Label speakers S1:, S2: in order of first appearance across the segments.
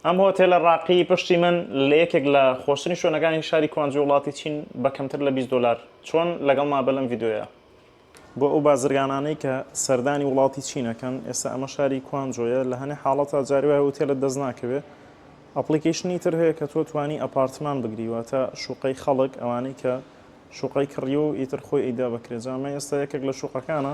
S1: ئەم هۆتێلە ڕاقیی پشتی من لە یەکێک لە خۆشترین شوێنەکانی شاری کوانجو وڵاتی چین بە کەمتر لە بیست دۆلار. چۆن؟ لەگەڵما بە لەم ڤیدیۆیە. بۆ ئەو بازرگانانەی کە سەردانی وڵاتی چین ئەکەن، ئێستا ئەمە شاری کوانجۆیە، لە هەنێ حاڵەتا جاری وایە هۆتێلت دەست ناکەوێ. ئەپڵیکەیشنی تر هەیە کە تۆ توانی ئەپارتمان بگری، واتە شوقەی خەڵک، ئەوانەی کە شوقەی کڕیوە و ئیتر خۆی ئەیدا بە کرێ. جا ئەمە ئێستا یەکێک لە شوقەکانە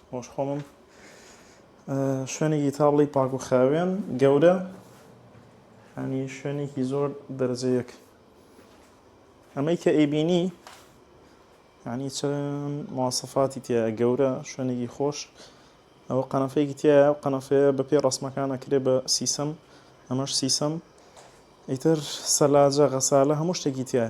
S1: خۆش خۆمم شوێنێکی تابڵی پاک و خاوێن گەورە ئەنی شوێنێکی زۆر دەرجەیەک ئەمەی کە ئەیبینی ینی چەند ماسەفاتی تیا گەورە شوێنێکی خۆش ئەوە قەنەفەیەکی تیا و قەنەفەیە بە پێ ڕسمەکانە کرێ بە سیسەم ئەمەش سیسەم ئیتر سەلاجە غەسالە هەموو شتێکی تایە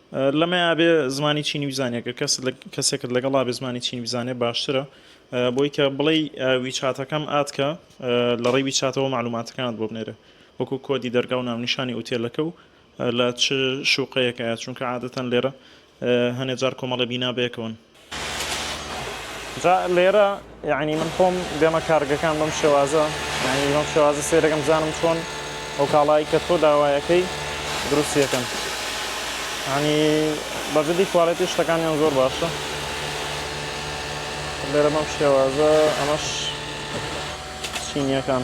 S1: لەمەیا بێ زمانی چینی بزانیە گەر کەسێکت لەگەڵا بێ زمانی چینی بزانێ باشترە بۆی کە بڵێی ویچاتەکەم ئاتکە لە ڕێی ویچاتەوە معلوماتەکانت بۆ بنێرێ وەکو کۆدی دەرگا و ناونیشانی ئوتێلەکە و لە چ شوقەیەکە چونکە عادەتەن لێرە هەنێ جار کۆمەڵە بینا بەیەکەوەن. جا لێرە یعنی من خۆم دێمە کارگەکان بەم شێوازە یعنی بەم شێوازە سێرەکەم زانم چۆن ئەو کاڵایی کە تۆ داوایەکەی دروستیەکەم ینی بەجددی کوالێتی شتەکانیان زۆر باشە لێرە بەم شێوازە ئەمەش چینیەکان